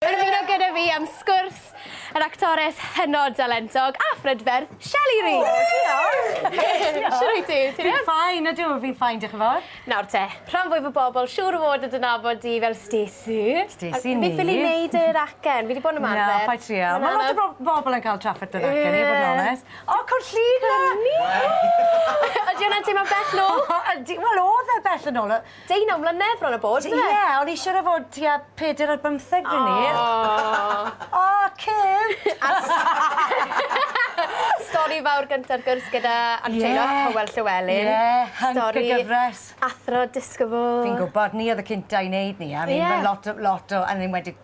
Ymuno gyda fi am sgwrs, yr actores hynod dalentog a phrydferth, Shelley Ree! O, diolch! Shwt wyt ti? Ti'n iawn? Fi'n fine, ydw, fi'n fine, diolch yn fawr. Nawr te, rhan fwyaf o bobl siŵr o fod yn dy nabod di fel Stacey. Stacey Neame. Fi ffili neud yr acen, fi 'di bod yn ymarfer. Na, paid trial. Mae lot o bobl yn cael trafferth yr acen, i fod yn onest. O, Cwrt Llŷn 'ma! Ydi hwnna'n teimlo'n bell nôl? Ydi, wel o'dd e bell yn ôl. Deunaw mlynedd bron a bod yndyfe? Ie, o'n i siŵr o fod tua peder ar bymtheg pryd 'ny. O! O, Kim! Stori fawr gynta'r gwrs gyda Anseilo a Hywel Llewelyn. Ie, hync y gyfres. Stori athro disgybl. Fi'n gwbod, ni odd y cynta i neud ni a fi'n gwel' lot o lot o yn enwedig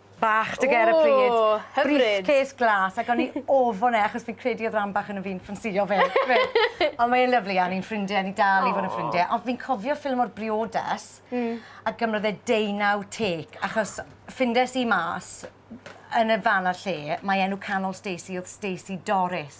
bach to get a pryd. O! Hyfryd. Briefcase glas ac o'n i ofon e achos fi'n credu odd ran bach ono fi'n ffansïo fe. Ond mae e'n lyfli a ni'n ffrindie a ni dal i fod yn ffrindie. Ond fi'n cofio ffilm o'r briodas a gymrodd e deunaw take achos ffindes i mas yn y fan a'r lle mae enw canol Stacey odd Stacey Doris.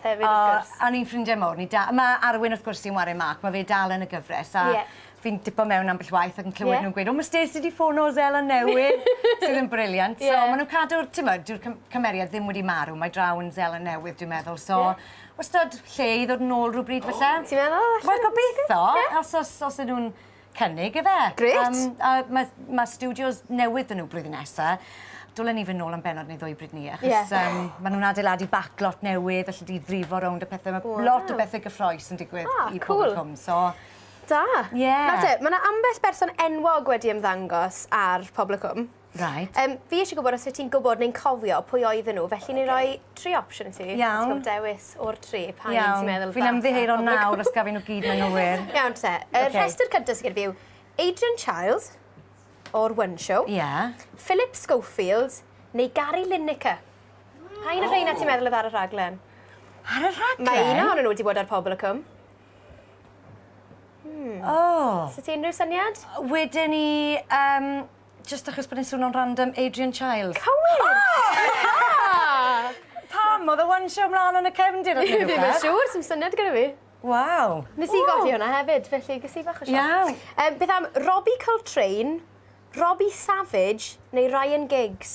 Hefyd wrth gwrs. O, a ni'n ffrindiau mowr, ni da- ma' Arwyn wrth gwrs sy'n ware Mark, ma' fe dal yn y gyfres a... Ie. ...fi'n tipo mewn ambell waith ac yn clywed... Ie. ...nhw'n gweud, o ma' Stacey 'di ffono Zella newydd! Sydd yn briliant. Ie. So ma' nhw'n cadw'r, t'mod, dyw'r cym- cymeriad ddim wedi marw, mae draw yn Zella newydd dwi'n meddwl, so... Ie. ...wastad lle i ddod nôl rywbryd falle. O! Ti'n meddwl? Wel gobeitho. Ie. Os os os 'yn nhw'n cynnig ife? Grêt! Yym a ma' ma' stiwdios newydd 'da n'w blwyddyn nesa. Dwlen ni fyn' nôl am bennod neu ddwy bryd 'ny achos... Ie. ...yym ma' nw'n adeiladu backlot newydd elli di frifo rownd a pethe ma'... Waw. ...lot o bethe gyffrous yn digwydd... O cŵl. ...i Pobl y Cwm so... Da. Ie. Nawr te ma' 'na ambell berson enwog wedi ymddangos ar Pobl y Cwm. Reit. Yym fi isie gwbod os wyt ti'n gwbod neu'n cofio pwy oedden nhw felly ni roi tri opsiwn i ti. Iawn. Ti'n ca'l dewis o'r tri pa un ti'n meddwl fasa... Iawn. Fi'n ymddiheuro nawr os gaf fi nw gyd yn anghywir. Iawn te. Y rhestr cynta sy gen fi yw Adrian Chiles o'r One Show. Ie. Philip Schofield neu Gary Lineker. Pa un o rheina ti'n meddwl odd ar y rhaglen? Ar y rhaglen? Mae un ohonyn nhw wedi bod ar Pobol y Cwm. Hmm. O! Sa ti unrhyw syniad? Weden i yym Jyst achos bod e'n swno'n random, Adrian Chiles. Cywir! O! Pam? Odd e one show mlan yn y cefndir ne' rwbeth? Fi ddim yn siŵr, sdim syniad gyda fi. Waw. Nes i golli hwnna hefyd, felly ges i bach o sioc. Iawn. Yym beth am Robbie Coltrane, Robbie Savage neu Ryan Giggs?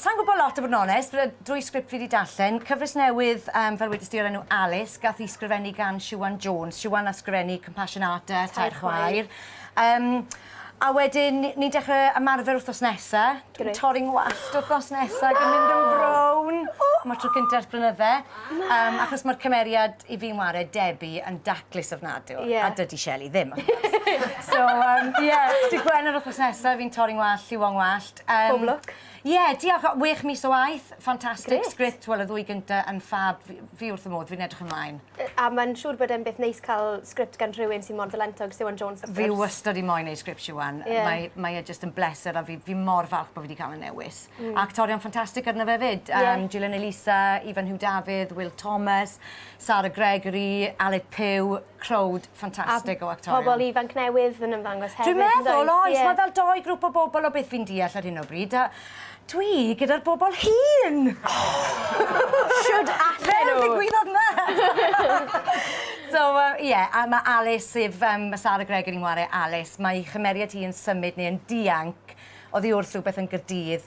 Sa i'n gwybod lot i fod yn onest, drwy sgript fi wedi darllen, cyfres newydd um, fel wedys ti o'r enw Alice, gath i sgrifennu gan Siwan Jones. Siwan a sgrifennu Compassion Art a Tair Chwaer. Um, A wedyn, ni'n dechrau ymarfer wrthnos nesa. Dwi'n torri ngwallt wrthnos nesa, gan mynd yn brown. Mae tro cyntaf ers blynydde. Um, achos mae'r cymeriad i fi'n wario, Debbie, yn daclus ofnadw. Yeah. A dydy Shelley ddim. so, um, yeah, di Gwener wrthnos nesa, fi'n torri ngwallt, lliwon ngwallt. Yym... Pob lwc. Ie, diolch. O, wech mis o waith. Fantastic... Grêt. ...sgript, wel y ddwy gynta yn ffab. Fi fi wrth fy modd, fi'n edrych ymlaen. Yy a ma'n siŵr bod e'n beth neis ca'l sgript gan rhywun sy mor dalentog, Siwan Jones wrth gwrs. Fi wastad 'di moyn neud sgript Siwan. Ie. Mae mae e jyst yn bleser a fi fi mor falch bo' fi 'di ca'l y newis. Hmm. A actorion ffantastig arno fe 'fyd. Ie. Yym Gillian Elisa, Ifan Huw Dafydd, Wil Thomas, Sara Gregory, Aled Puw, crowd ffantastig o actorion. A pobl ifanc newydd yn ymddangos hefyd yndoes? Dwi'n meddwl oes, mae fel dou grŵp o bobl o beth fi'n deall ar hyn o bryd a dwi gyda'r bobl hŷn! Shwd allen nhw? Fel ddigwyddodd 'ma! So yy ie, a ma' Alys sef yym ma' Sara Gregory'n ware Alys, mae 'i chymeriad hi yn symud neu yn dianc oddi wrth rhywbeth yn Gaerdydd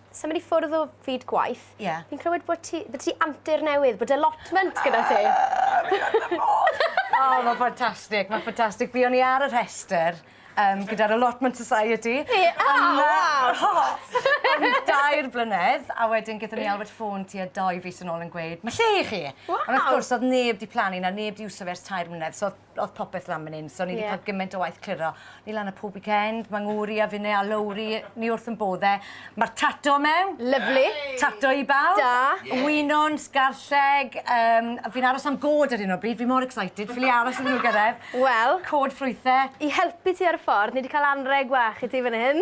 symud i ffwrdd o fyd gwaith. Ie. Yeah. Fi'n clywed bod ti, bod ti antur newydd, bod allotment gyda ti. oh, mae'n ffantastig, mae'n ffantastig. Fi o'n i ar y rhestr um, gyda'r Allotment Society. Ie, yeah. oh, wow! Am dair blynedd, a wedyn gyda ni Albert ffôn ti a doi fus yn ôl yn gweud, mae lle i chi! Wow. Ond wrth gwrs, oedd neb di plannu na neb di wso fe ers tair mlynedd, so O'dd popeth lan myn 'yn so o'n i 'di ca'l giment o waith cliro. Ni lan y pob weekend, ma' ngŵr i a finne a Lowri, ni wrth 'yn bodd e. Ma'r tato mewn. Lyfli. Tato i bawb. Da. Ie. Winwns, garlleg, yym a fi'n aros am gôd ar 'yn o bryd, fi mor excited, ffili aros iddyn nhw gyrredd. Wel. Cod ffrwythe. I helpu ti ar y ffordd, ni 'di ca'l anreg bach i ti fyn hyn.